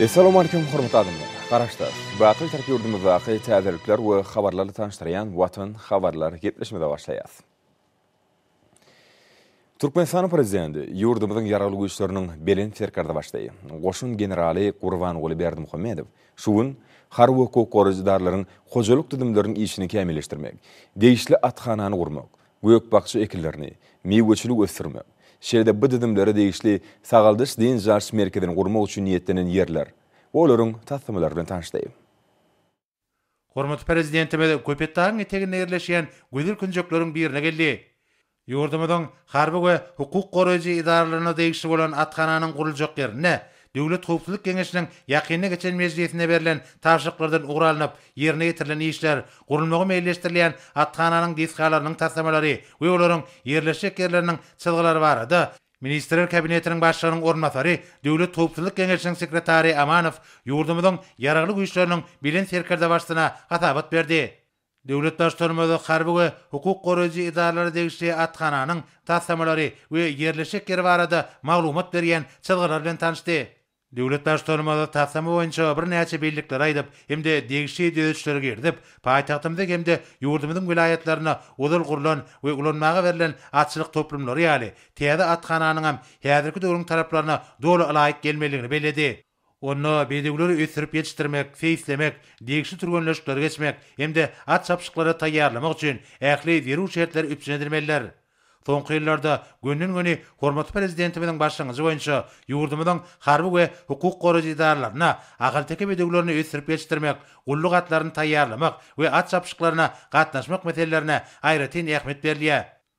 Essalamu Aleýkum hormatly adamlar! Garaşsyz, baky Türk ýurdumyzdaky täzelikler we habarlarly tanyşdyrýan Watan habarlar gepleşmede başlaýas. Türkmenistanyň Prezidenti ýurdumyzyň Ýaragly Güýçleriniň Belent Serkerdebaşlygy, Goşun generaly Gurbanguly Berdimuhamedow şu gün harby hukuk goraýjy edaralaryň hojalyk düzümleriniň işini kämilleşdirmek, degişli athanany gurmak, gök-bakja ekinlerini, miweçiligi ösdürmek, şeýle-de bu düzümlere degişli sagaldyş-dynç alyş merkezini gurmak üçin niýetlenen ýerler we olaryň taslamalary bilen tanyşdy. Hormatly Prezidentimiz Köpetdagyň eteginde ýerleşýän gözel künjekleriň birine geldi. Ýurdumyzyň harby we hukuk goraýjy edaralaryna degişli bolan athananyň guruljak ýerinde Döwlet howpsuzlyk geňeşiniň ýakynda geçen mejlisinde berlen tabşyryklardan ugur alnyp, ýerine ýetirilen işler, gurulmagy meýilleşdirilýän athananyň desgalarynyň taslamalary we olaryň ýerleşjek ýerleriniň çyzgylary barada Ministrler Kabinetiniň Başlygynyň orunbasary, Döwlet howpsuzlyk geňeşiniň sekretary Amanow ýurdumyzyň Ýaragly Güýçleriniň Belent Serkerdebaşysyna hasabat berdi. Döwlet Baştutanymyz harby we hukuk goraýjy edaralara degişli athananyň taslamalary we ýerleşjek ýeri barada maglumat berýän çyzgylar bilen tanyşdy. Döwlet Baştutanymyz taslama boýunça birnäçe bellikleri aýdyp hem-de degişli düzedişleri girizip, paýtagtymyzy hem-de ýurdumyzyň welaýatlaryna ozal gurlan we ulanmaga berlen atçylyk toplumlary ýaly täze athananyňam häzirki döwrüň talaplaryna doly ylaýyk gelmelidigini belledi. Onda bedewleri ösdürip ýetişdirmek, seýislemek, degişli türgenleşikleri geçmek hem-de at çapyşyklary taýýarlamak üçin ähli zerur şertler üpjün edilmelidir. Soňky ýyllarda gönden-göni hormatly Prezidentimiziň başlangyjy boýunça ýurdumyzyň harby we hukuk goraýjy edaralaryna ahalteke bedewlerini ösdürip ýetişdirmek, gulluk atlaryny taýýarlamak we at çapyşyklaryna gatnaşmak meselelerine aýratyn ähmiýet berilýär.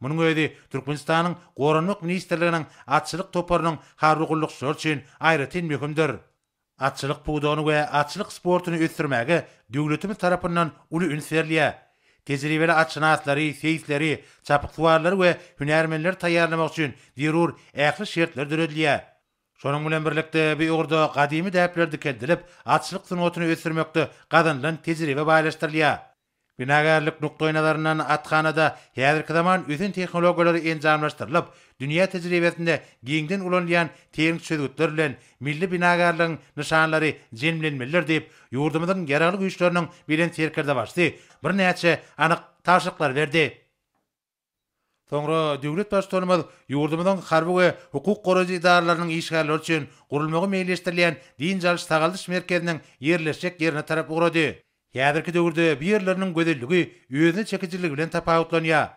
Munuň özi Türkmenistanyň Goranmak ministrliginiň atçylyk toparynyň harby gullukçylary üçin aýratyn möhümdir. Atçylyk pudagyny we atçylyk sportuny ösdürmäge döwletimiz tarapyndan uly üns berilýär. Tejribeli atşynaslary, seýisleri, çapyksuwarlary we hünärmenleri taýýarlamak üçin zerur ähli şertler döredilýär. Şonuň bilen birlikde, bu ugurda gadymy däpler dikeldilip, atçylyk sungatyny ösdürmekde gazanylan tejribe baýlaşdyrylýar. Binagärlik nukdaýnazaryndan athanada häzirki zaman ösen tehnologiýalary enjamlaşdyrylyp, dünýä tejribesinde giňden ulanylýan tehniki çözgütler bilen milli binagärligiň nyşanlary jemlenmelidir diýip, ýurdumyzyň Ýaragly Güýçleriniň Belent Serkerdebaşysy birnäçe anyk tabşyryklary berdi. Soňra döwlet Baştutanymyz ýurdumyzyň harby we hukuk goraýjy edaralarynyň işgärleri üçin gurulmagy meýilleşdirilýän dynç alyş-sagaldyş merkeziniň ýerleşjek ýerine tarap ugrady. Häzirki döwürde bu ýerleriniň gözelligi özüne çekijiligi bilen tapawutlanýar.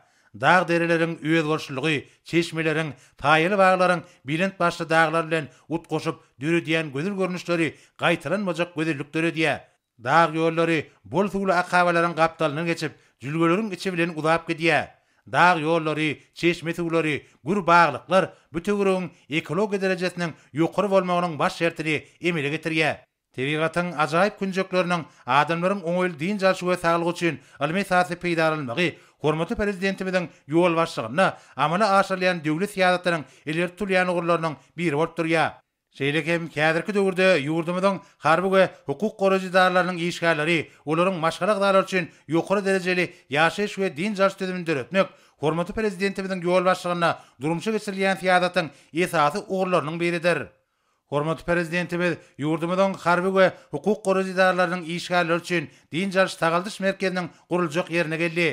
Dag-dereleriň özboluşlylygy, çeşmeleriň, saýaly baglaryň belent başly daglar bilen utgaşyp döredýän gözel görnüşleri gaýtalanmajak gözellik döredýär. Dag ýollary bol suwly akabalaryň gapdalyndan geçip, jülgeleriň içi bilen uzap gidýär. Dag ýollary, çeşme suwlary, gür baglyklar bu töweregiň ekologiýa derejesiniň ýokary bolmagynyň baş şertini emele getirýär. Tebigatyň ajaýyp künjekleriniň adamlaryň oňaýly dynç alşy we saglygy üçin ylmy esasda peýdalanylmagy hormatly Prezidentimiziň ýolbaşçylygynda amala aşyrylýan döwlet syýasatynyň ileri tutulýan ugurlarynyň biri bolup durýar. Şeýle hem häzirki döwürde ýurdumyzyň harby we hukuk goraýjy edaralarynyň işgärleri, olaryň maşgala agzalary üçin ýokary derejeli ýaşaýyş we dynç alyş düzümini döretmek hormatly Prezidentimiziň ýol başlygynda durmuşa geçirilýän syýasatyň esasy ugurlarynyň biridir. Hormatly Prezidentimiz ýurdumyzyň harby we hukuk goraýjy edaralarynyň işgärleri üçin dynç alyş-sagaldyş merkeziniň guruljak ýerine geldi.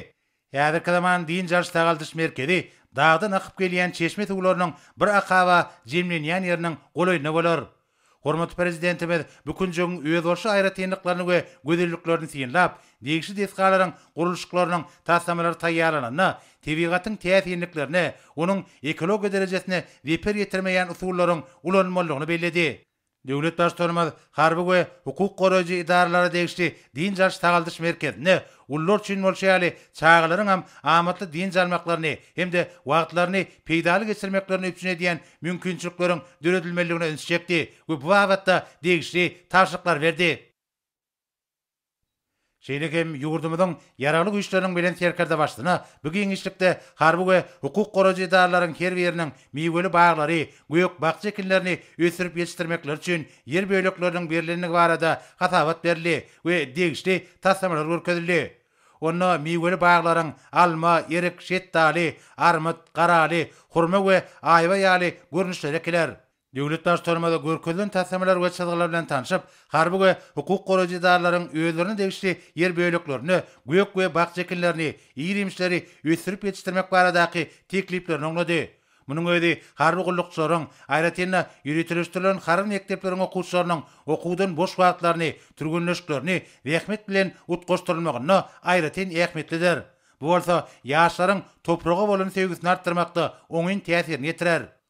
Häzirki zaman dynç alyş-sagaldyş merkezi dagdan akyp gelýän çeşme suwlarynyň bir akaba jemlenýän ýeriniň golaýynda bolar. Hormatly Prezidentimiz bu künjegiň özboluşly aýratynlyklaryny we gözelliklerini synlap, degişli desgalaryň gurluşyklarynyň taslamalary taýýarlananda, tebigatyň täsinliklerine, onuň ekologiýa derejesine zeper ýetirmeýän usullaryň ulanylmalydygyny belledi. Döwlet Baştutanymyz harby we hukuk goraýjy edaralara degişli dynç alyş-sagaldyş merkezinde ulular üçin bolşy ýaly çagalaryň hem amatly dynç almaklaryny hem-de wagtlaryny peýdaly geçirmeklerini üpjün edýän mümkinçilikleriň döredilmelidigine üns çekdi we bu babatda degişli tabşyryklary berdi. Şeýle hem ýurdumyzyň Ýaragly Güýçleriniň Belent Serkerdebaşysyna bu giňişlikde harby we hukuk goraýjy edaralaryň her biriniň miweli baglary, gök-bakja ekinlerini ösdürip ýetişdirmekleri üçin ýer bölekleriniň berlendigi barada hasabat berildi we degişli taslamalar görkezildi. Onda miweli baglaryň alma, erik, şetdaly, armyt, garaly, hurma we aýwa ýaly görnüşleri ekiler. Döwlet Baştutanymyz görkezilen taslamalar we çyzgylar bilen tanşyp, harby we hukuk goraýjy edaralaryň özlerine degişli ýer böleklerinde gök we bakja ekinlerini, ir-iýmişleri ösdürip ýetişdirmek baradaky tekliplerini oňlady. Munuň özi harby gullukçylaryň, aýratyn-da, ýöriteleşdirilen harby mekdepleriň okuwçylarynyň okuwdan boş wagtlaryny, türgenleşiklerini zähmet bilen utgaşdyrylmagynda aýratyn ähmiýetlidir. Bu bolsa ýaşlaryň topraga bolan söýgüsini artdyrmakda oňyn täsirini ýetirer.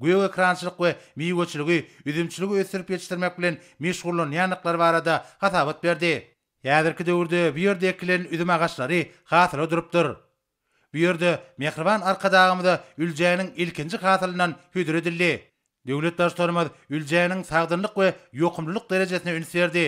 gök ekrançylyk we miweçiligi, üzümçiligi ösdürip ýetişdirmek bilen meşgullanýandyklary barada hasabat berdi. Häzirki döwürde bu ýerde ekilen üzüm agaçlary hasyla durupdyr. Bu ýerde mähriban Arkadagymyza Üljäniň ilkinji hasylyndan hödür edildi. Döwlet Baştutanymyz Üljäniň sagdynlyk we ýokumlylyk derejesine üns berdi.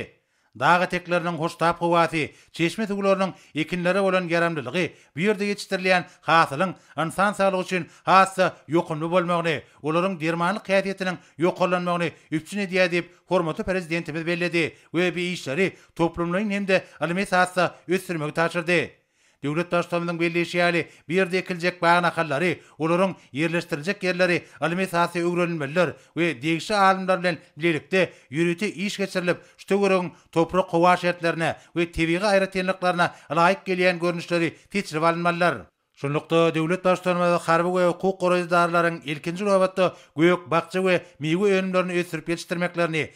Dag etekleriniň hoştap howasy, çeşme suwlarynyň ekinlere bolan ýaramlylygy bu ýerde ýetişdirilýän hasylyň ynsan saglygy üçin has-da ýokumly bolmagyny, olaryň dermanlyk häsiýetiniň ýokarlanmagyny üpjün edýär diýip, hormatly Prezidentimiz belledi we bu işleri toplumlaýyn hem-de ylmy esasda ösdürmegi tabşyrdy. Döwlet Baştutanymyzyň belleýşi ýaly, bu ýerde ekiljek bag nahallary, olaryň ýerleşdiriljek ýerleri ylmy esasda öwrenilmelidir we degişli alymlar bilen bilelikde ýörite iş geçirilip, şu töweregiň toprak-howa şertlerine we tebigy aýratynlyklaryna laýyk gelýän görnüşleri seçilip alynmalydyr. Şunlukda, döwlet Baştutanymyz harby we hukuk goraýjy edaralaryň ilkinji nobatda gök, bakja we miwe önümlerini ösdürip ýetişdirmeklerini,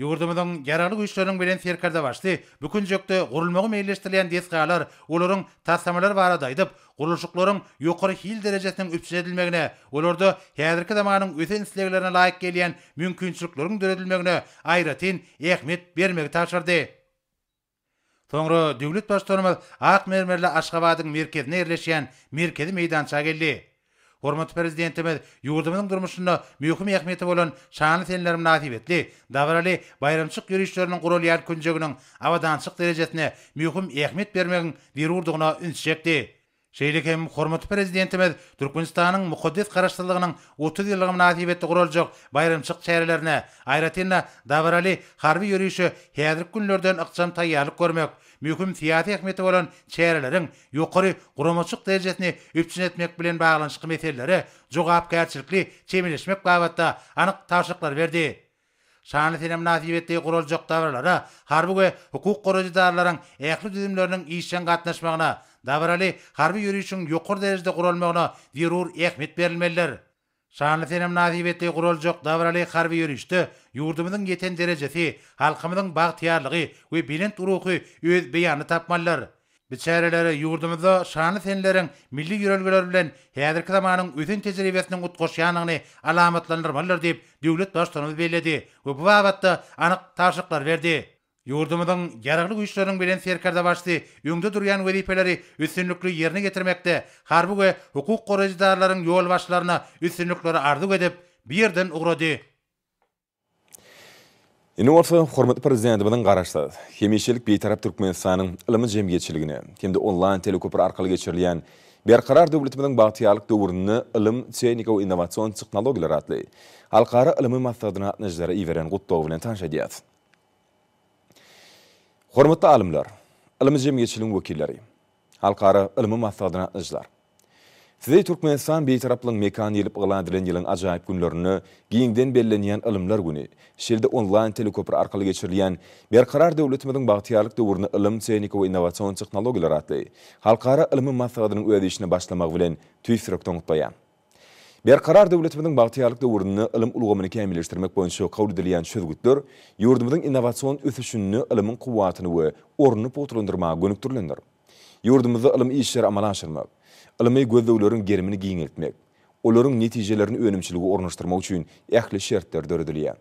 Ýurdumyzyň Ýaragly Güýçleriniň Belent Serkerdebaşy bu künjekde gurulmagy meýilleşdirilýän desgalar, olaryň taslamalary barada aýdyp, gurluşyklaryň ýokary hil derejesiniň üpjün edilmegine, olarda häzirki zamanyň ösen isleglerine laýyk gelýän mümkinçilikleriň döredilmegine aýratyn ähmiýet bermegi tabşyrdy. Soňra döwlet Baştutanymyz ak mermerli Aşgabadyň merkezinde ýerleşýän merkezi meýdança geldi. Hormatly Prezidentimiz ýurdumyzyň durmuşynda möhüm ähmiýeti bolan şanly senler mynasybetli dabaraly baýramçylyk ýörişleriniň guralýan künjeginiň abadançylyk derejesine möhüm ähmiýet bermegiň zerurdygyna ünsi çekdi. Şeýle hem hormatly Prezidentimiz Türkmenistanyň mukaddes Garaşsyzlygynyň otuz ýyllygy mynasybetli guraljak baýramçylyk çärelerine, aýratyn-da, dabaraly harby ýörişe häzirki günlerden ykjam taýýarlyk görmek, möhüm syýasy ähmiýeti bolan çäreleriň ýokary guramaçylyk derejesini üpjün etmek bilen baglanyşykly meselelere jogapkärçilikli çemeleşmek babatda anyk tabşyryklary berdi. Şanly sene mynasybetli guraljak dabaralara harby we hukuk goraýjy edaralaryň ähli düzümleriniň işjeň gatnaşmagyna, dabaraly harby ýörişiň ýokary derejede guralmagyna zerur ähmiýet berilmelidir. Şanly sene mynasybetli guraljak dabaraly harby ýörişde ýurdumyzyň ýeten derejesi, halkymyzyň bagtyýarlygy we belent ruhy öz beýanyny tapmalydyr. Biz çäreleri ýurdumyzda şanly seneleriň milli ýörelgeler bilen häzirki zamanyň ösen tejribesiniň utgaşýandygyny alamatlandyrmalydyr diýip, döwlet Baştutanymyz belledi we bu babatda anyk tabşyryklary berdi. Ýurdumyzyň Ýaragly Güýçleriniň Belent Serkerdebaşysy öňde durýan wezipeleri üstünlikli ýerine getirmekde harby we hukuk goraýjy edaralaryň ýolbaşçylaryna üstünlikleri arzuw edip, bu ýerden ugrady. Indi bolsa hormatly Prezidentimiziň Garaşsyz, hemişelik Bitarap Türkmenistanyň ylmy jemgyýetçiligine hem-de onlaýn teleköpri arkaly geçirilýän Berkarar döwletimiziň bagtyýarlyk döwründe ylym, tehnika we innowasion tehnologiýalar atly Halkara ylmy maslahatyna gatnaşyjylara iberen gutlagy bilen tanyş edýäris. Hormatly alymlar, ylmy jemgyýetçiligiň wekilleri! Halkara ylmy maslahatyna gatnaşyjylar Sizi Türkmenistan Bitaraplygyň mekany diýlip yglan edilen ýylyň ajaýyp günlerinde giňden bellenýän Ylymlar güni, şeýle-de onlaýn teleköpri arkaly geçirilýän Berkarar döwletimiziň bagtyýarlyk döwründe ylym, tehnika we innowasion tehnologiýalar atly halkara ylmy maslahatynyň öz işine başlamagy bilen tüýs ýürekden gutlaýar. Berkarar döwletimiziň bagtyýarlyk döwründe ylym ulgamyny kämilleşdirmek boýunça kabul edilýän çözgütler ýurdumyzyň innowasion ösüşinde ylmyň kuwwatyny we ornuny pugtalandyrmaga gönükdirilendir. Ýurdumyzda ylmy işleri amala aşyrmak, ylmy gözlegleriň gerimini giňeltmek, olaryň netijelerini önümçilige ornaşdyrmak üçin ähli şertler döredilýär.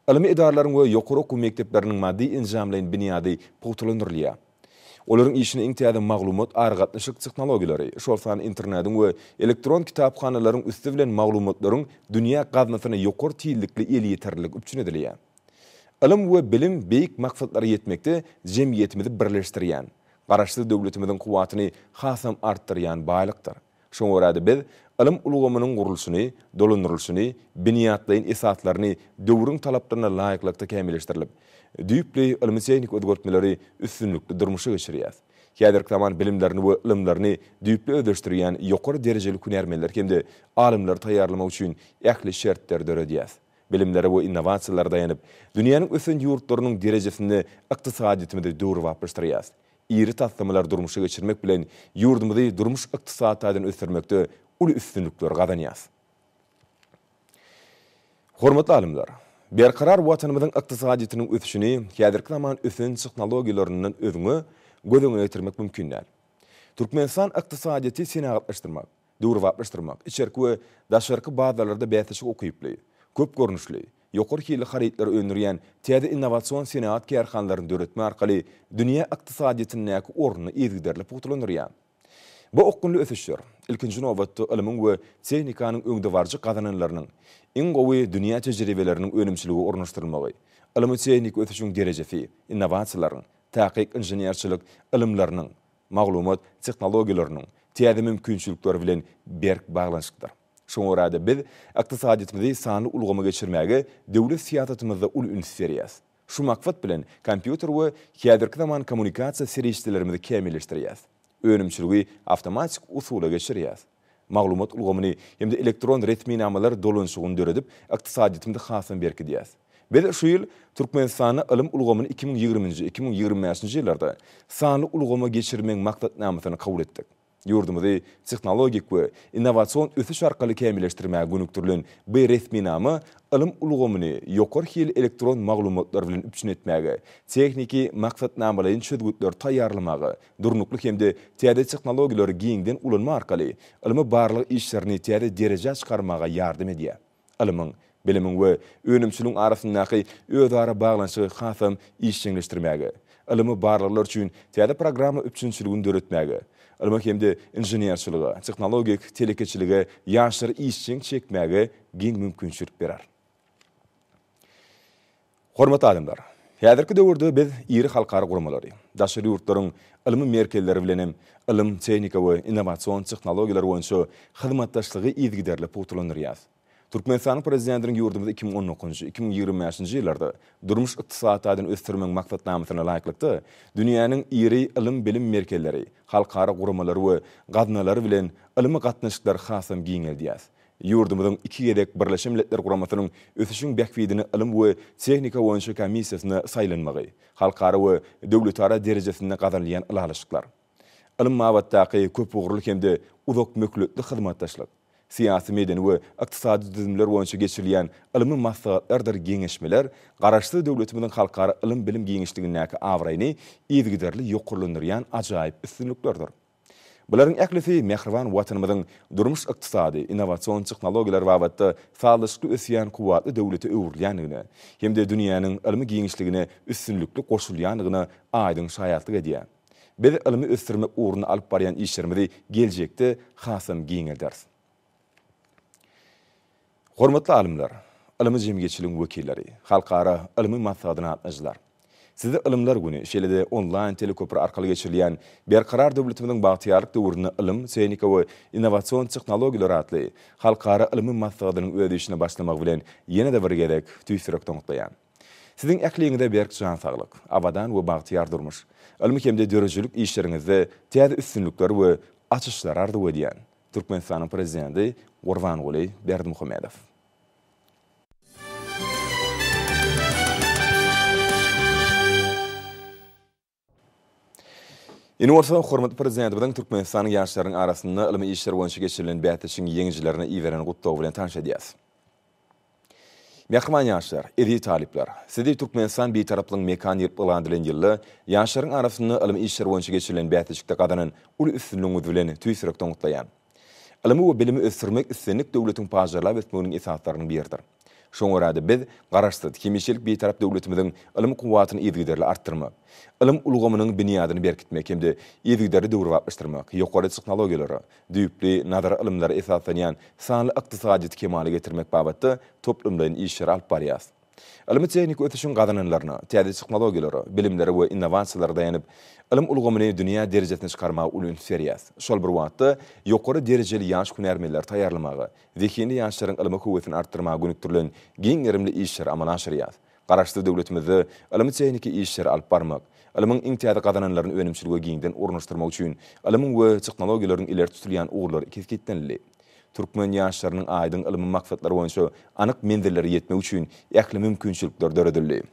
Ylmy edaralaryň we ýokary okuw mekdepleriniň maddy-enjamlaýyn binýady pugtalandyrylýar. Olaryň işine iň täze maglumat aragatnaşyk tehnologiýalary, şol sanda internediň we elektron kitaphanalaryň üsti bilen maglumatlaryň dünýä gaznasyna ýokary tizlikli elýeterlilik üpjün edilýär. Ylym we bilim beýik maksatlara ýetmekde jemgyýetimizi birleşdirýän, Garaşsyz döwletimiziň kuwwatyny hasam artdyrýan baýlykdyr. Şoňa görä-de biz ylym ulgamynyň gurluşyny, dolandyrylyşyny, binýatlaýyn esaslaryny döwrüň talaplaryna laýyklykda kämilleşdirilip, düýpli ylmy-tehniki özgertmeleri üstünlikli durmuşa geçirýäs. Häzirki zaman bilimlerini we ylymlaryny düýpli özleşdirýän ýokary derejeli hünärmenleri hem-de alymlary taýýarlamak üçin ähli şertleri döredýäs. Bilimlere we innowasiýalara daýanyp, dünýäniň ösen ýurtlarynyň derejesinde ykdysadyýetimizi döwrebaplaşdyrýas. iri taslamalary durmuşa geçirmek bilen ýurdumyzy durmuş-ykdysady taýdan ösdürmekde uly üstünlikleri gazanýarys. Hormatly alymlar! Berkarar Watanymyzyň ykdysadyýetiniň ösüşini häzirki zaman ösen tehnologiýalaryndan özňe göz öňüne getirmek mümkin däl. Türkmenistan ykdysadyýeti senagatlaşdyrmak, döwrebaplaşdyrmak, içerki we daşarky bazarlarda bäsleşik ukyply, köp görnüşli, ýokary hilli harytlary öndürýän täze innowasion senagat kärhanalaryny döretme arkaly dünýä ykdysadyýetindäki ornuny yzygiderli pugtalandyrýar. Bu okgunly ösüşler, ilkinji nobatda, ylmyň we tehnikanyň öňdebaryjy gazananlarynyň, iň gowy dünýä tejribeleriniň önümçilige ornaşdyrylmagy, ylmy-tehniki ösüşiň derejesi, innowasiýalaryň, takyk inženerçilik ylymlarynyň, maglumat tehnologiýalarynyň täze mümkinçilikleri bilen berk baglanyşyklydyr. Şoňa görä-de, biz ykdysadyýetimizi sanly ulgama geçirmäge döwlet syýasatymyzda uly üns berýäs. Şu maksat bilen kompýuter we häzirki zaman kommunikasiýa serişdelerimizi kämilleşdirýäs. Önümçiligi awtomatik usula geçirýäs. maglumat ulgamyny hem-de elektron resminamalar dolanyşygyny döredip, ykdysadyýetimizi hasam berkidýäs. Biz şu ýyl Türkmenistanda ylym ulgamyny iki müň ýigriminji, iki müň ýigrimi bäşinji ýyllarda sanly ulgama geçirmegiň maksatnamasyny kabul etdik. Ýurdumyzy tehnologik we innowasion ösüş arkaly kämilleşdirmäge gönükdirilen bu resminama ylym ulgamyny ýokary hilli elektron maglumatlar bilen üpjün etmäge, tehniki maksatnamalaýyn çözgütleri taýýarlamaga durnukly hem-de täze tehnologiýalary giňden ulanma arkaly ylmy-barlag işlerini täze derejä çykarmaga ýardam edýär. Ylmyň, bilimiň we önümçiligiň arasyndaky özara baglanyşygy hasam işjeňleşdirmäge, ylmy barlaglar üçin täze programma üpjünçiligini döretmäge, ylma hem-de inženerçilige, tehnologik telekeçilige ýaşlary işjeň çekmäge giň mümkinçilik berer. Hormatly alymlar! Häzirki döwürde biz iri halkara guramalary, daşary ýurtlaryň ylmy merkezleri bilen hem ylym, tehnika we innowasion tehnologiýalar boýunça hyzmatdaşlygy yzygiderli pugtalandyrýas. Türkmenistanyň Prezidentiniň ýurdumyzy iki müň on dokuzynjy, iki müň ýigrimi bäşinji ýyllarda durmuş-ykdysady taýdan ösdürmegiň maksatnamasyna laýyklykda dünýäniň iri ylym-bilim merkezleri, halkara guramalary we gaznalary bilen ylmy gatnaşyklary hasam giňeldýäs Ýurdumyzyň iki gezek Birleşen Milletler Guramasynyň Ösüşiň bähbidine ylym we tehnika boýunça komissiýasyna saýlanmagy, halkara we döwletara derejesinde gazanylýan ylalaşyklar, ylym babatdaky köpugurly hem-de uzakmöhletli hyzmatdaşlyk, syýasy-medeni we ykdysady düzümler boýunça geçirilýän ylmy maslahatlardyr geňeşmeler Garaşsyz döwletimiziň halkara ylym-bilim giňişligindäki abraýyny yzygiderli ýokarlandyrýan ajaýyp üstünliklerdir. Bularyň ählisi mähriban Watanymyzyň durmuş-ykdysady, innowasion tehnologiýalar babatda sazlaşykly ösýän kuwwatly döwlete öwrülýändigine hem-de dünýäniň ylmy giňişligine üstünlikli goşulýandygyna aýdyň şaýatlyk edýär. Biz ylmy ösdürmek ugrunda alyp barýan işlerimizi geljekde hasam giňelderis. Hormatly alymlar, ylmy jemgyýetçiligiň wekilleri, halkara ylmy maslahatyna gatnaşyjylar! Sizi Ylymlar güni, şeýle-de onlaýn teleköpri arkaly geçirilýän Berkarar döwletimiziň bagtyýarlyk döwründe ylym, tehnika we innowasion tehnologiýalar atly halkara ylmy maslahatynyň öz işine başlamagy bilen ýene-de bir gezek tüýs ýürekden gutlaýan. Siziň ähliňize berk jan saglyk, abadan we bagtyýar durmuş, ylmy hem-de döredijilik işleriňizde täze üstünlikler we açyşlar arzuw edýän! Türkmenistanyň Prezidenti Gurbanguly Berdimuhamedow. Indi bolsa hormatly Prezidentimiziň Türkmenistanyň ýaşlarynyň arasynda ylmy işler boýunça geçirilen bäsleşigiň ýeňijilerine iberen gutlagy bilen tanyş edýäris. Mähriban ýaşlar, eziz talyplar! Sizi Türkmenistan Bitaraplygyň mekany diýlip yglan edilen ýylda ýaşlaryň arasynda ylmy işler boýunça geçirilen bäsleşikde gazanan uly üstünligiňiz bilen tüýs ýürekden gutlaýan. Ylmy we bilimi ösdürmek islendik döwletiň pajarlap ösmeginiň esaslarynyň biridir. Şoňa görä-de, biz Garaşsyz, hemişelik Bitarap döwletimiziň ylym kuwwatyny yzygiderli artdyrmak, ylym ulgamynyň binýadyny berkitmek hem-de yzygiderli döwrebaplaşdyrmak, ýokary tehnologiýalary, düýpli nazary ylymlara esaslanýan sanly ykdysadyýeti kemala getirmek babatda toplumlaýyn işleri alyp barýarys. Ylmy-tehniki ösüşiň gazananlaryna, täze tehnologiýalara, bilimlere we innowasiýalara daýanyp, ylym ulgamyny dünýä derejesine çykarmaga uly üns berýäris. Şol bir wagtda, ýokary derejeli ýaş hünärmenleri taýýarlamaga, zehinli ýaşlaryň ylma höwesini artdyrmaga gönükdirilen giň gerimli işleri amala aşyrýarys. Garaşsyz döwletimizde ylmy-tehniki işleri alyp barmak, ylmyň iň täze gazananlaryny önümçilige giňden ornaşdyrmak üçin ylmyň we technologiýalaryň ileri tutulýan ugurlary kesgitlenildi. Türkmen ýaşlarynyň aýdyň ylmy maksatlary boýunça anyk menzillere ýetmegi üçin ähli mümkinçilikler döredildi.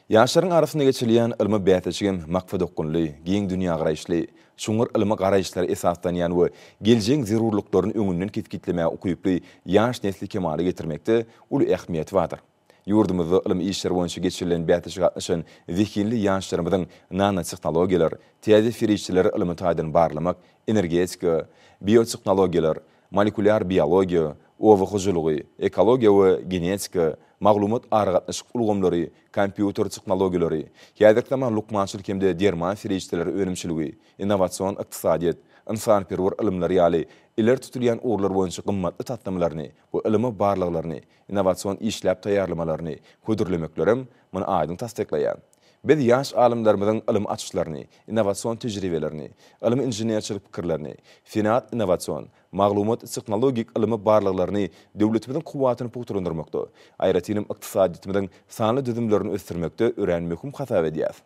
Ýaşlaryň arasynda geçirilýän ylmy bäsleşigem maksadaokgunly, giň dünýägaraýyşly, çuňňur ylmy garaýyşlara esaslanýan we geljegiň zerurlyklaryny öňünden kesgitlemäge ukyply ýaş nesli kemala getirmekde uly ähmiýeti bardyr. Ýurdumyzda ylmy işler boýunça geçirilen bäsleşige gatnaşan zehinli ýaşlarymyzyň nanotehnologiýalar, täze serişdeleri ylmy taýdan barlamak, energetika, biotehnologiýalar, molekulýar biologiýa, oba hojalygy, ekologiýa we genetika, maglumat-aragatnaşyk ulgamlary, kompýuter tehnologiýalary, häzirki zaman lukmançylyk hem-de derman serişdeleri önümçiligi, innowasion ykdysadyýet, ynsanperwer ylymlar ýaly ileri tutulýan ugurlar boýunça gymmatly taslamalaryny we ylmy barlaglaryny, innowasion işläp taýýarlamalaryny hödürlemeklerem muny aýdyň tassyklaýar. Biz ýaş alymlarymyzyň ylmy açyşlaryny, innowasion tejribelerini, ylmy-inženerçilik pikirlerini, senat-innowasion, maglumat-tehnologik ylmy barlaglaryny döwletimiziň kuwwatyny pugtalandyrmakda, aýratynam ykdysadyýetimiziň sanly düzümlerini ösdürmekde örän möhüm hasap edýäris.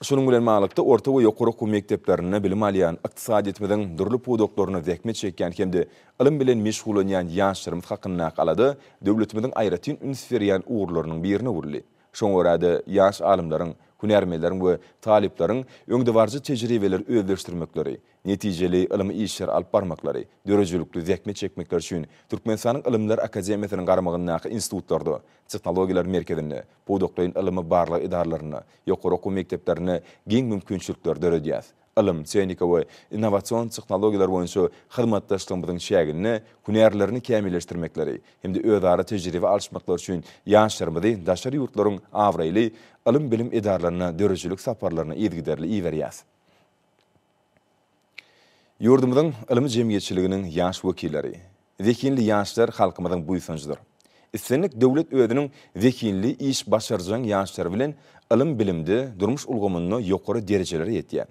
Şunuň bilen baglylykda, orta we ýokary okuw mekdeplerinde bilim alýan, ykdysadyýetimiziň dürli pudaklarynda zähmet çekýän hem-de ylym bilen meşgullanýan ýaşlarymyz hakyndaky alada döwletimiziň aýratyn üns berýän ugurlarynyň birine öwrüldi. Şoňa görä-de, ýaş alymlaryň, hünärmenleriň we talyplaryň öňdebaryjy tejribeleri özleşdirmekleri, netijeli ylmy işleri alyp barmaklary, döredijilikli zähmet çekmekleri üçin Türkmenistanyň Ylymlar akademiýasynyň garamagyndaky institutlarda, tehnologiýalar merkezinde, pudaklaýyn ylmy-barlag edaralarynda, ýokary okuw mekdeplerinde giň mümkinçilikleri döredýäris. Ylym, tehnika we innowasion tehnologiýalar boýunça hyzmatdaşlygymyzyň çäginde hünärlerini kämilleşdirmekleri hem-de özara tejribe alyşmaklary üçin ýaşlarymyzy daşary ýurtlaryň abraýly ylym-bilim edaralaryna döredijilik saparlaryna yzygiderli iberýäris. Ýurdumyzyň ylmy jemgyýetçiliginiň ýaş wekilleri, zehinli ýaşlar halkymyzyň buýsanjydyr. Islendik döwlet özüniň zehinli, iş başarjaň ýaşlary bilen ylym-bilimde, durmuş ulgamynda ýokary derejelere ýetýär.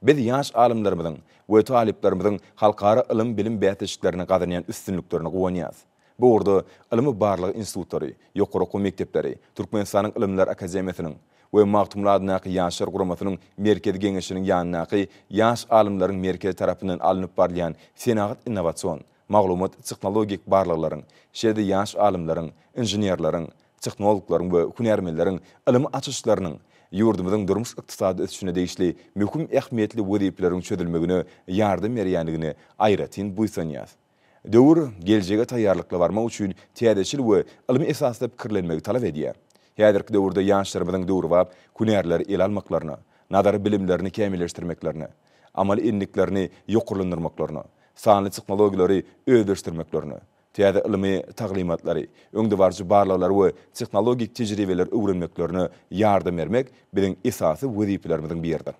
Biz ýaş alymlarymyzyň we talyplarymyzyň halkara ylym-bilim bäsleşiklerinde gazanýan üstünliklerine guwanýarys. Bu ugurda ylmy-barlag institutlary, ýokary okuw mekdepleri, Türkmenistanyň Ylymlar akademiýasynyň we Magtymguly adyndaky Ýaşlar guramasynyň Merkezi Geňeşiniň ýanyndaky Ýaş alymlaryň merkezi tarapyndan alnyp barylýan senagat-innowasion, maglumat-tehnologik barlaglaryň, şeýle-de ýaş alymlaryň, inženerleriň, tehnologlaryň we hünärmenleriň ylmy açyşlarynyň ýurdumyzyň durmuş-ykdysady ösüşine degişli möhüm ähmiýetli wezipeleriň çözülmegine ýardam berýändigine aýratyn buýsanýarys. Döwür, geljege taýýarlykly barmak üçin täzeçil we ylmy esasda pikirlenmegi talap edýär. Häzirki döwürde ýaşlarymyzyň döwrebap hünärleri ele almaklaryna, nazary bilimlerini kämilleşdirmeklerine, amaly endiklerini ýokarlandyrmaklaryna, sanly tehnologiýalary özleşdirmeklerine, täze ylmy taglymatlary, öňdebaryjy barlaglary we tehnologik tejribeleri öwrenmeklerine ýardam bermek biziň esasy wezipelerimiziň biridir.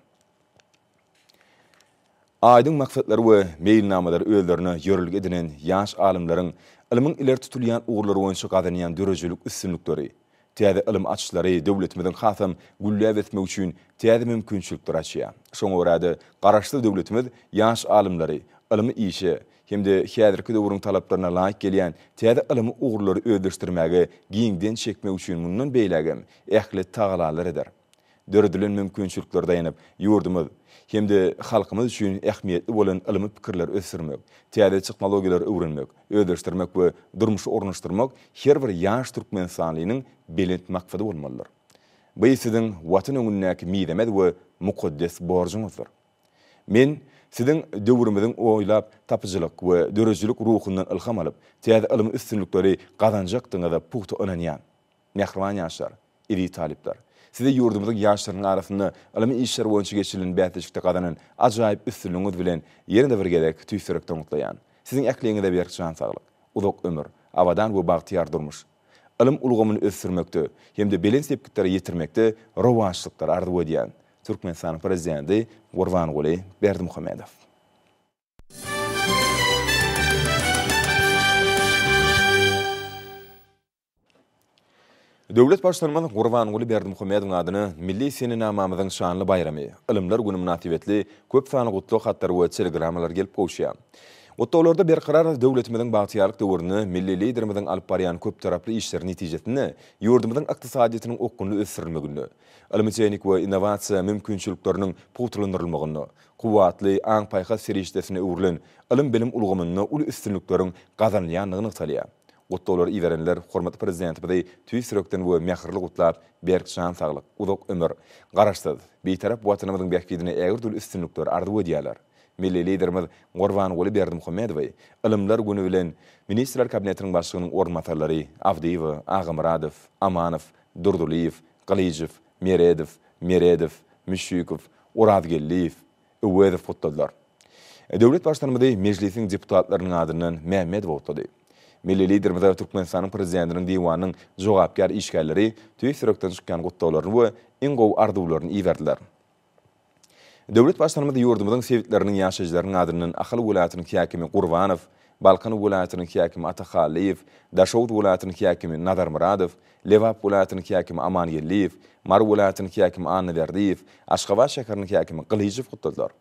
Aýdyň maksatlary we meýilnamalary özlerine ýörelge edinen ýaş alymlaryň ylmyň ileri tutulýan ugurlary boýunça gazanýan döredijilik üstünlikleri, täze ylym açyşlary döwletimiziň hasam gülläp ösmegi üçin täze mümkinçilikleri açýar. Şoňa görä-de, Garaşsyz döwletimiz ýaş alymlary ylmy işe hem-de häzirki döwrüň talaplaryna laýyk gelýän täze ylmy ugurlary özleşdirmäge giňden çekmek üçin mundan beýlägem ähli tagalalar eder. döredilen mümkinçiliklere daýanyp, ýurdumyz hem-de halkymyz üçin ähmiýetli bolan ylmy pikirleri ösdürmek, täze tehnologiýalary öwrenmek, özleşdirmek we durmuşa ornaşdyrmak her bir ýaş türkmenistanlynyň belent maksady bolmalydyr. Bu siziň Watan öňündäki mizemez we mukaddes borjuňyzdyr. Men Siziň döwrümiziň oýlap tapyjylyk we döredijilik ruhundan ylham alyp, täze ylmy üstünlikleri gazanjakdygyňyza pugta ynanýan. Mähriban ýaşlar, eziz talyplar! Size ýurdumyzyň ýaşlarynyň arasynda ylmy işler boýunça geçirilen bäsleşikde gazanan ajaýyp üstünligiňiz bilen ýene-de bir gezek tüýs ýürekden gutlaýan. Siziň ähliňize berk jan saglyk, uzak ömür, abadan we bagtyýar durmuş, ylym ulgamyny ösdürmekde hem-de belent sepgitlere ýetirmekde rowaçlyklary arzuw edýän. Türkmenistanyň Prezidenti Gurbanguly Berdimuhamedow. Döwlet Baştutanymyz Gurbanguly Berdimuhamedowyň adyna milli senenamamyzyň şanly baýramy, Ylymlar güni mynasybetli köp sanly gutlag hatlary we telegramalar gelip gowuşýar. Gutlaglarda Berkarar döwletimiziň bagtyýarlyk döwründe milli Liderimiziň alyp barýan köptaraply işleri netijesinde ýurdumyzyň ykdysadyýetiniň okgunly ösdürilmeginde, ylmy-tehnik we innowasiýa mümkinçilikleriniň pugtalandyrylmagynda, kuwwatly aň-paýhas serişdesine öwrülen ylym-bilim ulgamynda uly üstünlikleriň gazanylýandygy nygtalýar. Gutlaglar iberenler hormatly Prezidentimizi tüýs ýürekden we mähirli gutlap, berk jan saglyk, uzak ömür, Garaşsyz, Bitarap Watanymyzyň bähbidine ägirt-uly üstünlikler arzuw edýärler. Milli Liderimiz Gurbanguly Berdimuhamedowy Ylymlar güni bilen Ministrler Kabinetiniň Başlygynyň orunbasarlary Abdyýewa, Agamyradow, Amanow, Durdylyýew, Gylyjow, Meredow, Meredow, Müşşükow, Orazgeldiýew, Öwezow gutladylar. Döwlet Baştutanymyzy Mejlisiň deputatlarynyň adyndan Mämmedow gutlady. Milli Liderimize Türkmenistanyň Prezidentiniň Diwanynyň jogapkär işgärleri tüýs ýürekden çykýan gutlaglaryny we iň gowy arzuwlaryny iberdiler. Döwlet Baştutanymyz ýurdumyzyň sebitleriniň ýaşaýjylarynyň adyndan Ahal welaýatynyň häkimi Gurbanow, Balkan welaýatynyň häkimi Atahaliýew, Daşoguz welaýatynyň häkimi Nazarmyradow, Lebap welaýatynyň häkimi Aman Geldiýew, Mary welaýatynyň häkimi Annaberdiýew, Aşgabat şäheriniň häkimi Gylyjow gutladylar.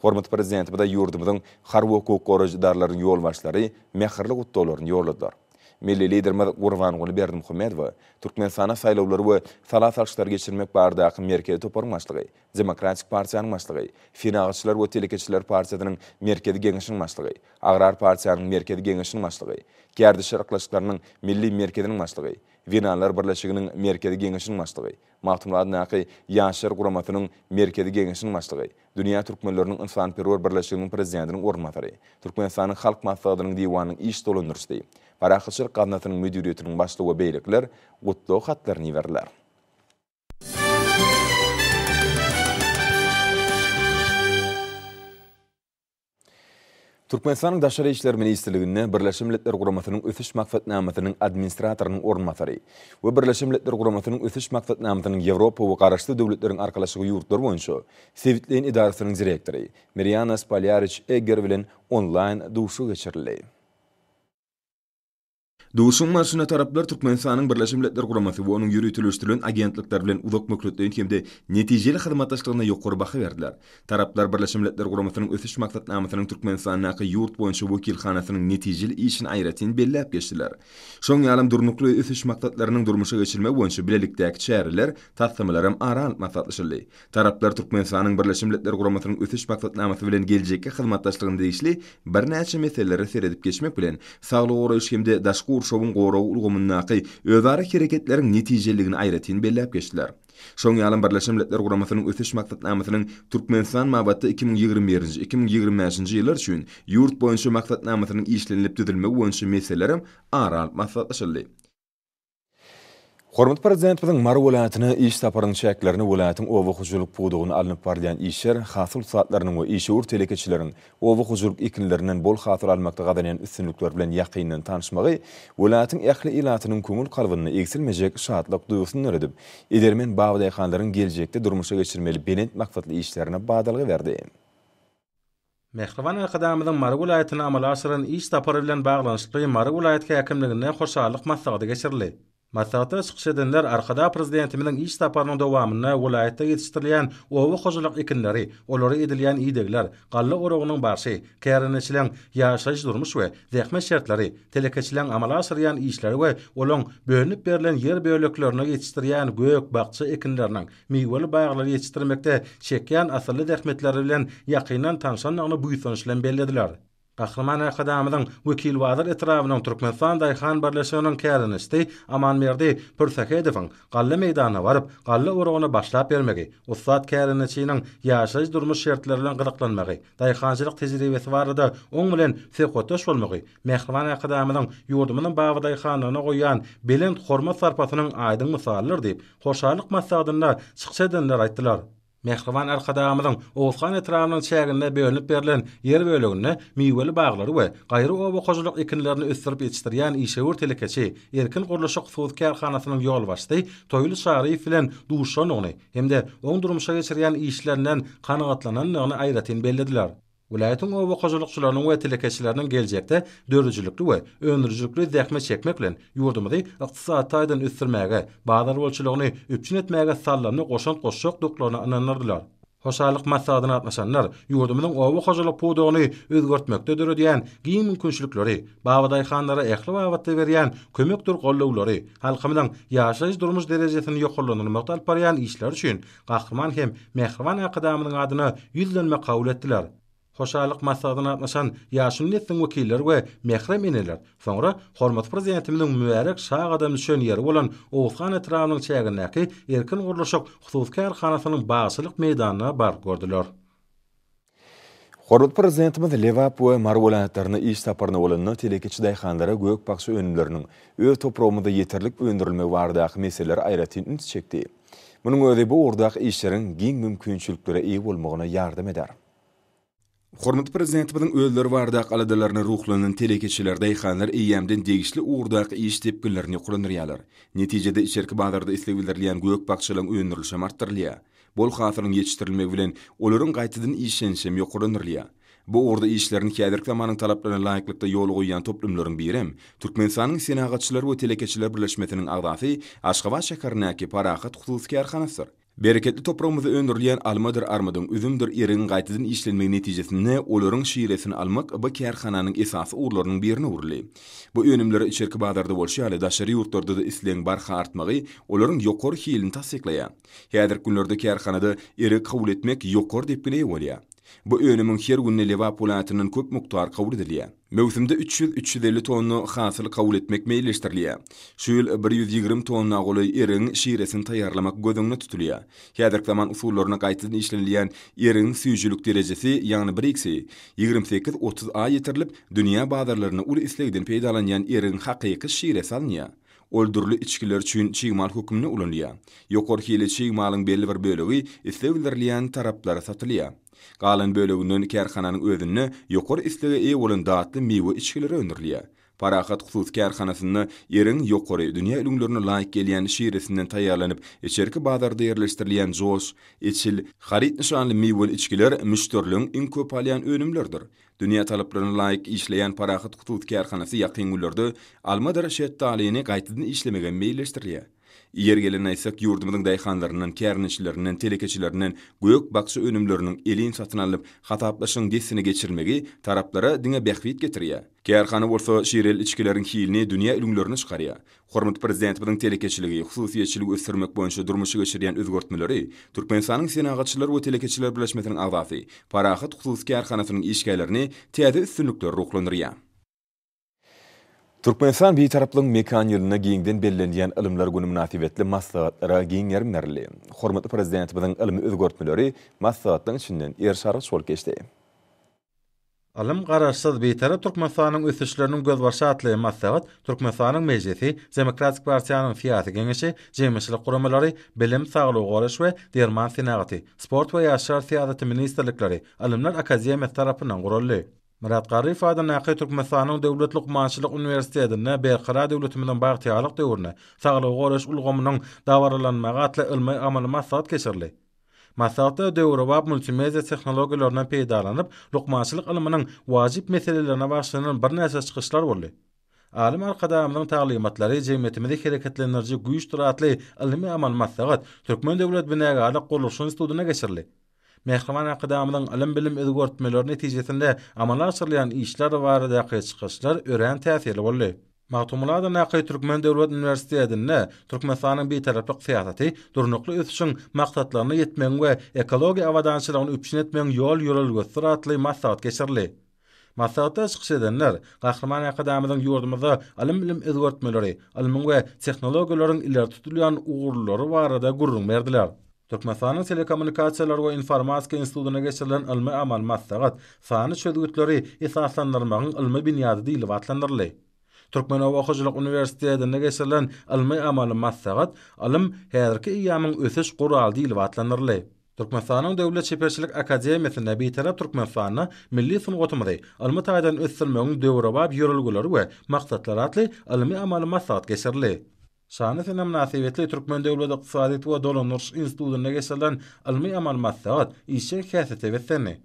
Hormatly Prezidentimize ýurdumyzyň harby-hukuk goraýjy edaralarynyň ýolbaşçylary mähirli gutlaglaryny ýolladylar. Milli Liderimiz Gurbanguly Berdimuhamedowa Türkmenistana saýlawlary we sala salşyklary geçirmek baradaky merkezi toparyň başlygy Demokratik partiýanyň başlygy, Senagatçylar we telekeçiler partiýasynyň Merkezi Geňeşiniň başlygy, Agrar partiýanyň Merkezi Geňeşiniň başlygy, Gärdişer yklaşyklarynyň Milli Merkeziniň başlygy, Zenanlar birleşiginiň Merkezi Geňeşiniň başlygy, Magtymguladyndaky Ýaşlar guramasynyň Merkezi Geňeşiniň başlygy, Dünýä türkmenleriniň ynsanperwer birleşiginiň prezidentiniň orunbasary, Türkmenistanyň Halk Maslahatynyň Diwanynyň iş dolandyryşy, Parahatçylyk gaznasynyň müdiriýetiniň başlygy we beýlekiler Gutlag hatlaryny iberdiler. Türkmenistanyň Daşary işler ministrliginde Birleşen Milletler Guramasynyň Ösüş maksatnamasynyň administratorynyň orunbasary we Birleşen Milletler Guramasynyň Ösüş maksatnamasynyň Ýewropa we Garaşsyz Döwletleriň Arkalaşygy ýurtlary boýunça sebitleýin edarasynyň direktory Mirýana Spalýariç-Egger bilen onlaýn duşuşyk geçirildi. Duşuşygyň barşynda taraplar Türkmenistanyň Birleşen Milletler Guramasy we onuň ýöriteleşdirilen agentlikleri bilen uzak möhletleýin hem-de netijeli hyzmatdaşlygyna ýokary baha berdiler. Taraplar Birleşen Milletler Guramasynyň Ösüş maksatnamasynyň Türkmenistandaky ýurt boýunça wekilhanasynyň netijeli işini aýratyn belläp geçdiler. Şoň ýalam Durnukly ösüş maksatlarynyň durmuşa geçirilmegi boýunça bilelikdäki çäreler, taslamalaram ara alnyp maslahatlaşyldy. Taraplar Türkmenistanyň Birleşen Milletler Guramasynyň Ösüş maksatnamasy bilen geljekki hyzmatdaşlygyna degişli birnäçe meselelere seredip geçmek bilen, saglygy goraýyş hem-de daşky gurşawyň goragy ulgamyndaky özara hereketleriň netijeliligini aýratyn belläp geçdiler. Şoň ýalam Birleşen Milletler Guramasynyň Ösüş maksatnamasynyň Türkmenistan babatda iki müň ýigrimi birinji, iki müň ýigrimi bäşinji ýyllar üçin ýurt boýunça maksatnamasynyň işlenilip düzülmegi boýunça meselelerem ara alnyp maslahatlaşyldy. Hormatly Prezidentimiziň Mary welaýatyna iş saparynyň çäklerinde welaýatyň oba hojalyk pudagynda alnyp barylýan işler, hasyl ussatlarynyň we işewür telekeçileriň oba hojalyk ekinlerinden bol hasyl almakda gazanýan üstünlikleri bilen ýakyndan tanyşmagy welaýatyň ähli ilatynyň köňül kalbynda egsilmejek şatlyk duýgusyny döredip, edermen baba daýhanlaryň geljekde durmuşa geçirmeli belent maksatly işlerine badalga berdi. Mähriban Arkadagymyzyň Mary welaýatyna amala aşyran iş sapary bilen baglanyşykly Mary welaýat häkimliginde hoşallyk maslahaty geçirildi. Maslahatda çykyş edenler Arkadag Prezidentimiziň iş saparynyň dowamynda welaýatda ýetişdirilýän oba hojalyk ekinleri, olara edilýän idegler, galla oragynyň barşy, kärendeçileň ýaşaýyş-durmuş we zähmet şertleri, telekeçileň amala aşyrýan işleri we olaň bölünip berlen ýer böleklerinde ýetişdirýän gök, bakja ekinleriniň, miweli baglary ýetişdirmekde çekýän asylly zähmetleri bilen ýakyndan tanşandygyny buýsanç bilen bellediler. Gahryman Arkadagymyzyň Wekilbazar etrabynyň Türkmenistan daýhan birleşiginiň kärdeneçisi Amanberdi Pürsähedowyň galla meýdanyna baryp, galla oragyny başlap bermegi, ussat kärdeneçiniň ýaşaýyş-durmuş şertleri bilen gyzyklanmagy, daýhançylyk tejribesi barada oň bilen söhbetdeş bolmagy Mähriban Arkadagymyzyň ýurdumyzyň babadaýhanlygyna goýýan belent hormat-sarpasynyň aýdyň mysalydyr diýip, Hoşallyk maslahatynda çykyş edenler aýtdylar. Mähriban Arkadagymyzyň Oguzhan etrabynyň çäginde bölünip berlen ýer böleginde miweli baglary we gaýry oba hojalyk ekinlerini ösdürip ýetişdirýän işewür telekeçi Erkin gurluşyk hususy kärhanasynyň ýolbaşçysy Toýly Çaryýew bilen duşandygyny hem-de oň durmuşa geçirýän işlerinden kanagatlanandygyny aýratyn bellediler. Welaýatyň oba hojalykçylarynyň we telekeçileriniň geljekde döredijilikli we öndürijilikli zähmet çekmek bilen, ýurdumyzy ykdysady taýdan ösdürmäge, bazar bolçulygyny üpjün etmäge sallymly goşant goşjakdyklaryna ynandyrdylar. Hoşallyk maslahatyna gatnaşanlar ýurdumyzyň oba hojalyk pudagyny özgertmekde döredýän giň mümkinçilikleri, babadaýhanlara ähli babatda berýän kömekdir gollawlary, halkymyzyň ýaşaýyş-durmuş derejesini ýokarlandyrmakda alyp barýan işleri üçin Gahryman hem mähriban Arkadagymyzyň adyna ýüzlenme kabul etdiler. Hoşallyk maslahatyna gatnaşan ýaşuly nesliň wekilleri we mährem eneler soňra hormatly Prezidentimiziň mübärek şa gadam düşen ýeri bolan Oguzhan etrabynyň çägindäki Erkin gurluşyk hususy kärhanasynyň bagçylyk meýdanyna baryp gördüler. Hormatly Prezidentimiz Lebap we Mary welaýatlaryna iş saparynda bolanda telekeçi daýhanlara gök-bakja önümleriniň öz topragymyzda ýeterlik öndürilmegi baradaky meselelere aýratyn üns çekdi. Munuň özi bu ugurdaky işleriň giň mümkinçiliklere eýe bolmagyna ýardam eder. Hormatly Prezidentimiziň özleri baradaky aladalaryna ruhlanan telekeçiler, daýhanlar eýýämden degişli ugurdaky iş depginlerini ýokarlandyrýarlar. Netijede, içerki bazarda isleg bildirilýän gök-bakjalaryň öndürilişi hem artdyrylýar. Bol hasylyň ýetişdirilmegi bilen, olaryň gaýtadan işlenişi hem ýokarlandyrylýar. Bu ugurda işlerini häzirki zamanyň talaplaryna laýyklykda ýola goýýan toplumlaryň biri hem Türkmenistanyň Senagatçylar we telekeçiler birleşmesiniň agzasy Aşgabat şäherindäki Parahat hususy kärhanasydyr. Bereketli topragymyzda öndürilýän almadyr armydyň, üzümdir erigiň gaýtadan işlenmegi netijesinde olaryň şiresini almak bu kärhananyň esasy ugurlarynyň birine öwrüldi. Bu önümlere içerki bazarda bolşy ýaly daşary ýurtlarda-da islegiň barha artmagy olaryň ýokary hilini tassyklaýar. Häzirki günlerde kärhanada eregi kabul etmek ýokary depgine eýe bolýar. Bu önümiň her günde Lebap welaýatyndan köp mukdar kabul edilýär. Möwsümde üç ýüz, üç ýüz elli tonna hasyl kabul etmek meýilleşdirilýär. Şu ýyl bir ýüz ýigrimi tonna golaý erigiň şiresini taýýarlamak göz öňünde tutulýar. Häzirki zaman usullaryna gaýtadan işlenilýän erigiň süýjülik derejesi, ýagny bir ikisi, ýigrimi sekiz, otuz a ýetirilip, dünýä bazarlarynda uly islegden peýdalanýan erigiň hakyky şiresi alynýar. Ol dürli içgiler üçin çig mal hökmünde ulanylýar. Ýokary hili çig malyň belli bir bölegi isleg bildirilýän taraplara satylýar. Galan böleginden kärhananyň özünde ýokary islege eýe bolan datly miwe içgileri öndürilýär. Parahat hususy kärhanasynda Iriň ýokary dünýä ülňülerine laýyk gelýän şiresinden taýýarlanyp, içerki bazarda ýerleşdirilýän Josh, Eçil, Haryt nyşanly miweli içgiler müşderiligiň iň köp alýan önümleridir. Dünýä talaplaryna laýyk işleýän Parahat hususy kärhanasy ýakyn günlerde almadyr şetdalyny gaýtadan işlemegi meýilleşdirýär. Ýeri gelende aýtsak, ýurdumyzyň daýhanlaryndan, kärneçilerinden, telekeçilerinden gök-bakja önümleriniň elin satyn alnyp, hasaplaşygyň dessine geçirilmegi taraplara diňe bähbit getirýär. Kärhana bolsa şireli içgileriň hilini dünýä ülňülerine çykarýar. Hormatly Prezidentimiziň telekeçiligi, hususyýetçiligi ösdürmek boýunça durmuşa geçirýän özgertmeleri Türkmenistanyň Senagatçylar we telekeçiler birleşmesiniň agzasy, Parahat hususy kärhanasynyň işgärlerini täze üstünliklere ruhlandyrýar. Türkmenistan Bitaraplygyň mekan ýylynda giňden bellenilýän Ylymlar güni mynasybetli maslahatlara giň gerim berildi. Hormatly Prezidentimiziň ylmy özgertmeleri maslahatlaryň içinden erşarygyç bolup geçdi. Ylym, Garaşsyz, Bitarap Türkmenistanyň ösüşleriniň gözbaşy atly maslahat Türkmenistanyň Mejlisi, Demokratik partiýanyň Syýasy Geňeşi, jemgyýetçilik guramalary, Bilim, Saglygy goraýyş we derman senagaty, Sport we ýaşlar syýasaty ministrlikleri, Ylymlar akademiýasy tarapyndan guraldy. Myrat Garryýew adyndaky Türkmenistanyň Döwlet lukmançylyk uniwersitetinde Berkarar döwletimiziň bagtyýarlyk döwründe saglygy goraýyş ulgamynyň dabaralanmagy atly ylmy-amaly maslahat geçirildi. Maslahatda döwrebap multimedia tehnologiýalaryndan peýdalanyp, lukmançylyk ylmynyň wajyp meselelerine bagyşlanan birnäçe çykyşlar boldy. Alym Arkadagymyzyň taglymatlary jemgyýetimizi hereketlendiriji güýçdür atly ylmy-amaly maslahat Türkmen döwlet binagärlik-gurluşyk institutynda geçirildi. Mähriban Arkadagymyzyň ylym-bilim özgertmeleri netijesinde amala aşyrylýan işler baradaky çykyşlar örän täsirli boldy. Magtymguly adyndaky Türkmen döwlet uniwersitetinde Türkmenistanyň Bitaraplyk syýasaty, durnukly ösüşiň maksatlaryna ýetmegiň we ekologiýa abadançylygyny üpjün etmegiň ýol-ýörelgesidir atly maslahat geçirildi. Maslahatda çykyş edenler Gahryman Arkadagymyzyň ýurdumyzda ylym-bilim özgertmeleri, ylmyň we tehnologiýalaryň ileri tutulýan ugurlary barada gürrüň berdiler. Türkmenistanyň Telekommunikasiýalar we informatika institutyna geçirilen ylmy-amaly maslahat Sanly çözgütleri esaslandyrmagyň ylmy binýady diýlip atlandyryldy. Türkmen oba hojalyk uniwersitetinde geçirilen ylmy-amaly maslahat Ylym, häzirki eýýamyň ösüş guraly diýlip atlandyryldy. Türkmenistanyň Döwlet çeperçilik akademiýasynda Bitarap Türkmenistanda milli sungatymyzy ylmy taýdan ösdürmegiň döwrebap ýörelgeleri we maksatlary atly ylmy-amaly maslahat geçirildi. Şanly sene mynasybetli Türkmen döwlet ykdysadyýet we dolandyryş institutynda geçirilen ylmy-amaly maslahat işjeň häsiýete beslendi.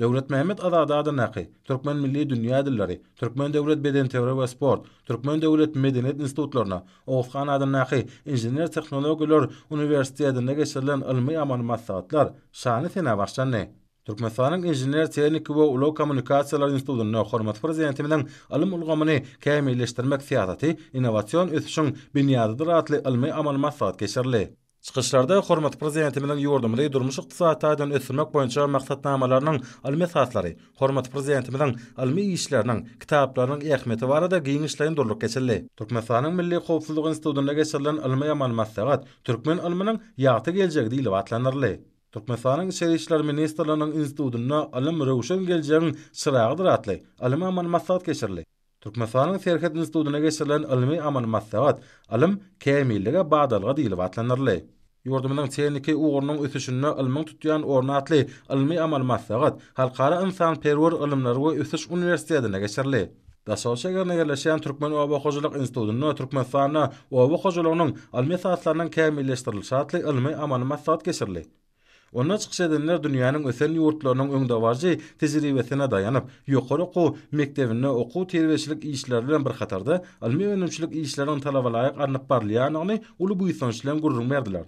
Döwletmämmet Azady adyndaky Türkmen milli dünýä dilleri, Türkmen döwlet bedenterbiýe we sport, Türkmen döwlet medeniýet institutlaryna, Oguzhan adyndaky Inžener-tehnologiýalar uniwersitetinde geçirilen ylmy-amaly maslahatlar şanly senä başlandy. Türkmenistanyň Inžener-tehniki we ulag kommunikasiýalary institutynda hormatly Prezidentimiziň Ylym ulgamyny kämilleşdirmek syýasaty innowasion ösüşiň binýadydyr atly ylmy-amaly maslahat geçirildi. Çykyşlarda hormatly Prezidentimiziň ýurdumyzy durmuş-ykdysady taýdan ösdürmek boýunça maksatnamalarynyň ylmy esaslary, hormatly Prezidentimiziň ylmy işleriniň, kitaplarynyň ähmiýeti barada giňişleýin durlup geçildi. Türkmenistanyň Milli howpsuzlyk institutynda geçirilen ylmy-amaly maslahat Türkmen ylmynyň ýagty geljegi diýlip atlandyryldy. Türkmenistanyň Içeri işler ministrliginiň institutynda Ylym, röwşen geljegiň çyragydyr atly ylmy-amaly maslahat geçirildi. Türkmenistanyň Serhet institutynda geçirilen ylmy-amaly maslahat Ylym, kämillige badalga diýlip atlandyryldy. Ýurdumyzyň tehniki ugrunyň ösüşinde ylmyň tutýan orny atly ylmy-amaly maslahat Halkara ynsanperwer ylymlar we ösüş uniwersitetinde geçirildi. Daşoguz şägerinde ýerleşýän Türkmen oba hojalyk institutynda Türkmenistanda oba hojalygynyň ylmy esaslarynyň kämilleşdirilişi atly ylmy-amaly maslahat geçirildi. Onda çykyş edenler dünýäniň ösen ýurtlarynyň öňdebaryjy tejribesine daýanyp, ýokary okuw mekdebinde okuw-terbiýeçilik işleri bilen bir hatarda ylmy-önümçilik işleriniň talabalaýyk alnyp barylýandygyny uly buýsanç bilen gürrüň berdiler.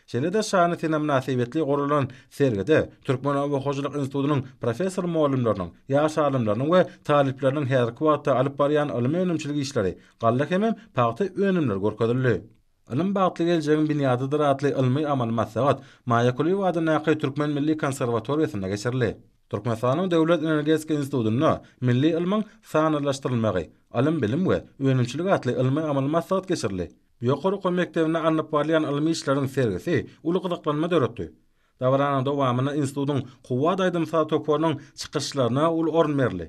Şeýle-de şany sene mynasybetli guralan sergide Türkmen oba hojalyk institutynyň professor-mugallymlarynyň, ýaş alymlarynyň we talyplarynyň häzirki wagtda alyp barýan ylmy-önümçilik işleri, galla hemem pagta önümleri görkezildi. Ylym bagtly geljegiň binýadydyr atly ylmy-amaly maslahat Maýa Kulyýewa adyndaky Türkmen milli konserwatoriýasynda geçirildi. Türkmenistanyň Döwlet energetika institutynda Milli ylmyň sanlylaşdyrylmagy, ylym-bilim we önümçilik atly ylmy-amaly maslahat geçirildi. Ýokary okuw mekdebinde alnyp barylýan ylmy işleriň sergisi uly gyzyklanma döretdi. Dabaranyň dowamynda institutyň Kuwwat aýdym-saz toparynyň çykyşlaryna uly orun berildi.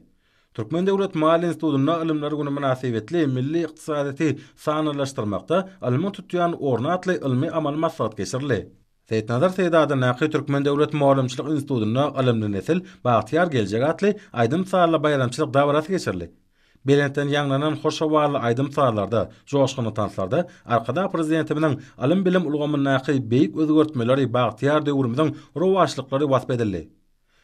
Türkmen döwlet maliýe institutynda Ylymlar güni mynasybetli Milli ykdysadyýeti sanlylaşdyrmakda ylmyň tutýan orny atly ylmy-amaly maslahat geçirildi. Seýitnazar Seýdada Naky Türkmen döwlet mugallymçylyk institutynda Ylymly nesil, bagtyýar geljek atly aýdym-sazly baýramçylyk dabarasy geçirildi. Belentden ýaňlanan hoş howally aýdym-sazlarda, joşgunly tanslarda Arkadagly Prezidentimiziň ylym-bilim ulgamyndaky beýik özgertmeleri, bagtyýar döwrümiziň rowaçlyklary wasp edildi.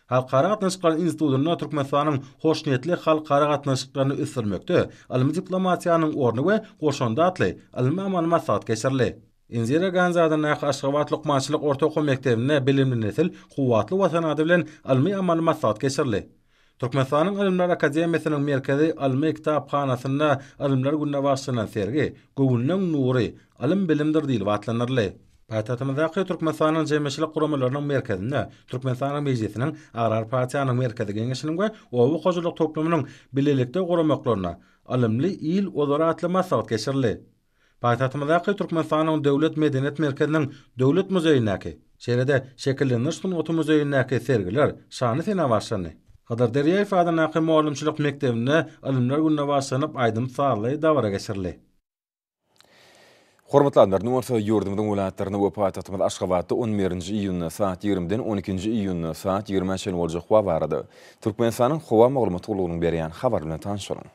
Halkara gatnaşyklary institutynda Türkmenistanyň hoşniýetli halkara gatnaşyklaryny ösdürmekde ylmy diplomatiýanyň orny we goşandy atly ylmy-amaly maslahat geçirildi. Indira Gandhi adyndaky Aşgabat lukmançylyk orta okuw mekdebinde Bilimli nesil, kuwwatly Watan ady bilen ylmy-amaly maslahat geçirildi. Türkmenistanyň Ylymlar akademiýasynyň Merkezi ylmy kitaphanasynda Ylymlar gününe bagyşlanan sergi Göwünleň nury, ylym bilimdir diýlip atlandyryldy. Paýtagtymyzdaky Türkmenistanyň jemgyýetçilik guramalarynyň merkezinde Türkmenistanyň Mejlisiniň, Agrar partiýanyň Merkezi Geňeşiniň we Oba hojalyk toplumynyň bilelikde guramaklaryna Ylymly il ozar atly maslahat geçirildi. Paýtagtymyzdaky Türkmenistanyň Döwlet medeniýet merkeziniň Döwlet muzeýindäki, şeýle-de Şekillendiriş sungaty muzeýindäki sergiler şanly sene başlandy. Hydyr Derýaýew adyndaky mugallymçylyk mekdebinde Ylymlar gününe bagyşlanyp aýdym-sazly dabara geçirildi. Hormatly adlar, indi bolsa ýurdumyzyň welaýatlarynda we paýtagtymyz Aşgabatda on birinji iýunda saat ýigrimiden on ikinji iýunda saat ýigrime çenli boljak howa barada Türkmenistanyň Howa maglumat gullugynyň berýän habary bilen tanyşalyň.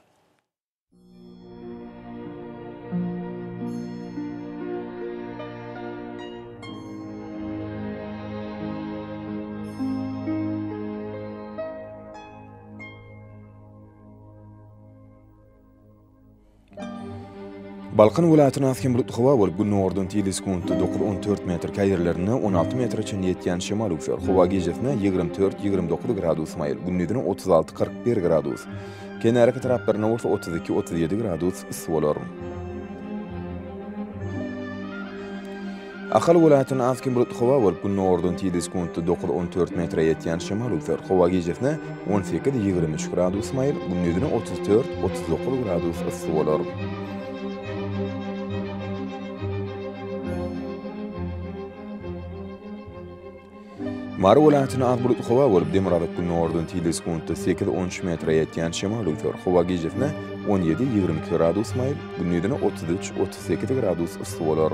Balkan welaýatyna has hem bulutly howa bolup, günordan tizligi sekuntda dokuz on dört metr, käýerlerinde on alty metre çenli ýetýän şemal öwser. Howa gijesine ýigrimi dört, ýigrimi dokuz gradus maýyl, gündizine otuz alty, kyrk bir gradus. Kenarýaka taraplarynda bolsa otuz iki, otuz ýedi gradus yssy bolar. Ahal welaýatynda az-kem bulutly howa bolup, gündogardan tizligi sekuntda dokuz, on dört metre ýetýän şemal öwser. Howa gijesine on sekiz, ýigrimi üç gradus maýyl, gündizine otuz dört, otuz dokuz gradus yssy bolar. Mary welaýatyna az bulutly howa bolup, demirgazyk günordan tile sekuntda sekiz on üç metre ýetýän şemal öwser. Howa gijesine on ýedi ýigrimi iki gradus maýyl, gündizine otuz üç otuz sekiz gradus yssy bolar.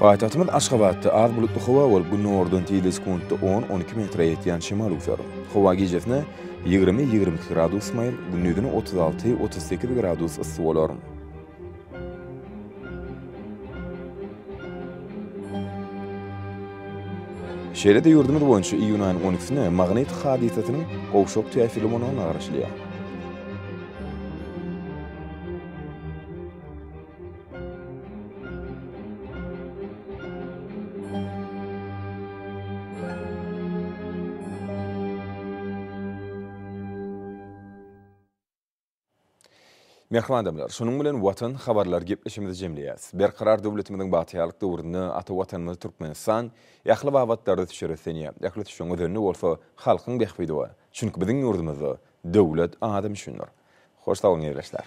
Paýtagtymyz Aşgabatda az bulutly howa bolup, gündogardan tizligi sekuntda on, on iki metre ýetýän şemal üwser. Howa gijesine ýigrimi, ýigrimi iki gradus maýyl, gündizine otuz alty, otuz sekiz gradus yssy bolar. Şeýle-de ýurdumyz boýunça iýun aýynyň on ikisine magnit hadysasynyň gowşak täsirli bolmagyna garaşylýar. Mähriban adamlar, şunuň bilen Watan habarlar gepleşigimizi jemleýäs. Berkarar döwletimiziň bagtyýarlyk döwründe ata Watanymyz Türkmenistan ähli babatlarda düşer ösenýär. Ähli düşeň özende bolsa halkyň bähbidi bar. Çünki biziň ýurdumyzda döwlet adam üçindir. Hoş sag boluň ildeşler.